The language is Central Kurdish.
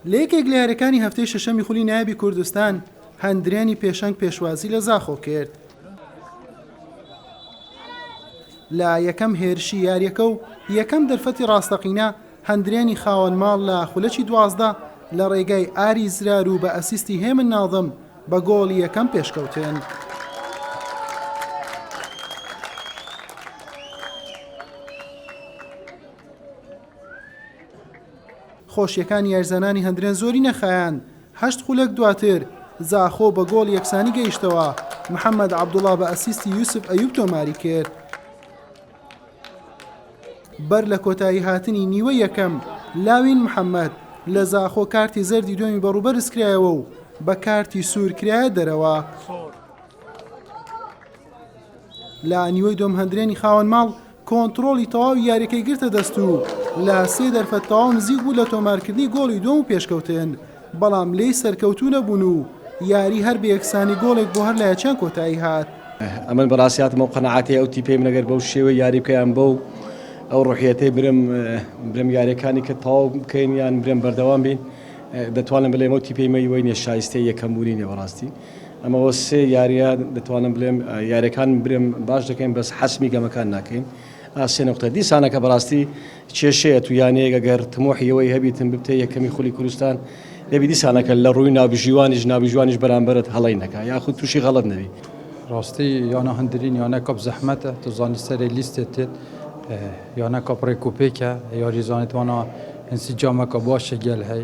لە یەکێک لە یاریەکانی هەفتەی شەشەمی خولی نایبی کوردستان هەندرێنی پێشەنگ پێشوازی لە زاخۆ کرد لە یەکەم هێرشی یاریەکە و یەکەم دەرفەتی ڕاستەقینە هەندرێنی خاوەن ماڵ لە خولەکی دوازدە لە ڕێگای ئاری زرار و بە ئەسیستی هێمن ناظم بە گۆڵی یەکەم پێشکەوتن. خۆشیەکانی یاریزانانی هەندرێن زۆری نەخایاند هەشت خولەک دواتر زاخۆ بە گۆڵ یەکسانی گەیشتەوە محەممەد عبدوڵا بە ئەسیستی یوسف ئەیوب تۆماری کرد بەر لە کۆتایی هاتنی نیوە یەکەم لاوین محەممەد لە زاخۆ کارتی زەردی دوێنی بەڕوبەرزکرایەوە و بە کارتی سوور کرایە دەرەوە لە نیوەی دۆم هەندرێنی خاوەن ماڵ کۆنتڕۆڵی تەواوی یارییەکەی گرتە دەست و لە سێ دەرفەت تەواو نزیک بوو لە تۆمارکردنی گۆڵی دووەم و پێشکەوتن، بەڵام لێی سەرکەوتوو نەبوون و یاریی هەر بە یەکسانی گۆڵێک بۆ هەر لایەکیان کۆتایی هات. ئەمن بەڕاستی هاتم ئەو قەناعەتەی ئەو تیپەی من ئەگەر بەو شێوەی یاری بکەم یان بەو ئەو ڕوحیەتەی برم برم یاریەکانی کە تەواو بکەین یان برم بەردەوام بین دەتوانم بلێم ئەو تیپەی مەی وەینێ شایستەی یەکەم بوونی نێ بەڕاستی ئەمە وە سێ یاریە دەتوانم بلێم یارەکان برێم باش دەکەین بەس حەسمی گەمەکان ناکەین ئاسێ نقطە دیسانەکە بەڕاستی کێشەیە تو یانەیەگە گەر تمۆحی ئەوەی هەبیتن ببتە یەکەمی خولی کوردستان دەبی دیسانەکە لە ڕووی ناوبژیوانیش ناوبژیوانیش بەرامبەرت هەڵەی نەکا یاخود تووشی غەڵەت نەبی. ڕاستی یانە هەندرین یانە کەپ زەحمەتە تو زانی سەرێ لیستێ تێت یانە کەپ ڕێکوپێکە یاری زانیت وانا ئینسیجامەکە باشە گێل هەی